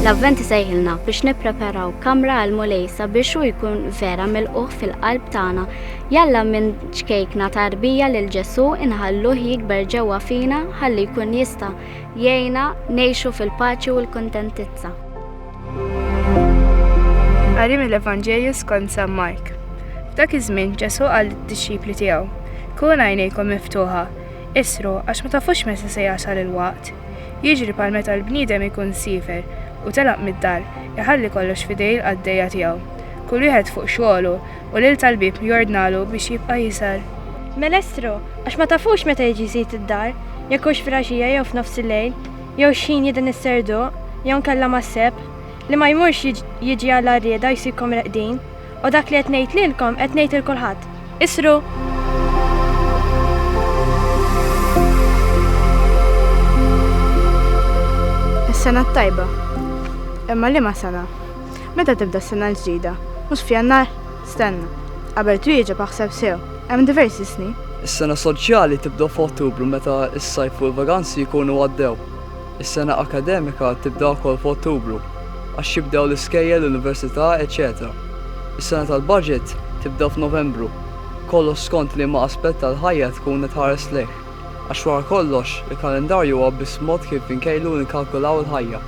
L-Avvent isejħilna biex nippreparaw kamra għal Mulej sabiex hu jkun vera milquh fil-qalb tagħna. Jalla minn ċkejkna tarbija lil Ġesu inħalluh jikber ġewwa fina ħalli jkun jista' jgħinna ngħixu fil-paċi u l-kuntentizza. Qari mill-Evanġelju skont San Mark. F'dak iż-żmien Ġesù qal lid-dixxipli tiegħu, Kun għajnejkom miftuħa, isru għax ma tafux meta se jasal il-waqt. Jiġri bħal meta l-bniedem ikun siefer u telaq mid-dar, iħalli kollox f'idej il-qaddejja tiegħu, kull wieħed fuq xogħlu, u lil tal-bieb jordnalu biex jibqa' jisal. Mela isru, għax ma tafux meta jiġi sid id-dar, jekk hux fil-għaxija jew f'nofs il-lejl. jew x'ħin jidhin is-serduq, jew inkella mas-sebħ, li ma jmurx jiġi għall-għarrieda jsibkom reqdin, u dak li qed ngħid lilkom qed ngħid lil kulħadd, Isru! Is-sena t-tajba. Imma liema sena? Meta tibda s-sena l-ġdida? Mhux f'Jannar? Stenna. Qabel twieġeb aħseb sew. Hemm diversi snin. Is-sena soċjali tibda f'Ottubru meta s-sajf u l-vaganzi jkunu għaddew. Is-sena akademika tibda wkoll f'Ottubru għax jibdew l-iskejjel, l-università, eċċetera. Is-sena tal-baġit tibda f'Novembru. Kollox skont liema aspett tal-ħajja tkun qed tħares lejh. Għax wara kollox, il-kalendarju huwa biss mod kif inkejlu u nikkalkulaw il-ħajja.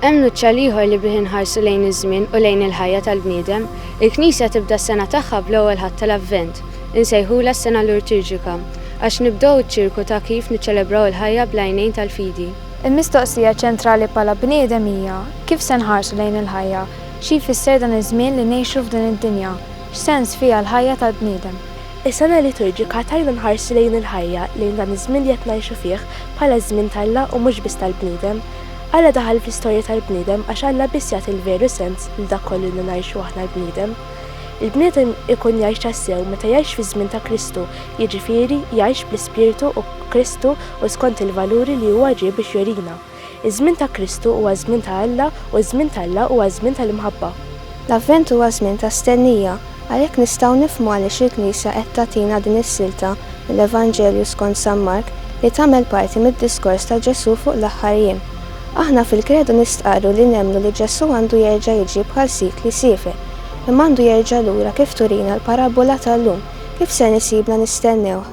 Hemm nuċċal ieħor li bih inħarsu lejn iż-żmien u lejn il-ħajja tal-bniedem. Il-Knisja tibda s-sena tagħha bl-ewwel Ħadd tal-Avvent. Insejħulha s-sena lurtiġika, għax nibdew iċ-ċirku ta' kif niċċelebraw il-ħajja bl-għajnejn tal-fidi. Il-mistoqsija ċentrali bħala bniedem hija, kif se nħarsu lejn il-ħajja? Xi jfisser dan iż-żmien li ngħixu f'din id-dinja? X'sens fiha l-ħajja tal-bniedem? Is-sena liturġika tgħinna nħarsu lejn il-ħajja, lejn dan iż-żmien li qed ngħixu fih, bħala ż-żmien t'Alla u mhux biss tal-bniedem. Alla daħal fl-istorja tal-bniedem għax Alla biss jagħti l-veru sens lil dak kollu li ngħixu aħna l-bniedem. Il-bniedem ikun jgħix tassew meta jgħix fiż-żmien ta' Kristu, jiġifieri, jgħix bl-Ispirtu u b'Kristu u skont il-valuri li huwa ġie biex jurina. Iż-żmien ta' Kristu huwa ż-żmien ta' Alla u ż-żmien t'Alla huwa ż-żmien tal-imħabba. L-Avvent huwa żmien ta' stennija, għalhekk nistgħu nifhmu għaliex il-Knisja qed tagħtina din is-silta mill-Evanġelju skont San Mark li tagħmel parti mid-diskors ta' Ġesù fuq l-aħħar jiem. Aħna fil-Kredu nistqarru li nemmnu li Ġesù għandu jerġa' jiġi bħal sid li siefer, imma għandu jerġa' lura kif turina l-parabbola tal-lum, kif ser nisibna nistennewh.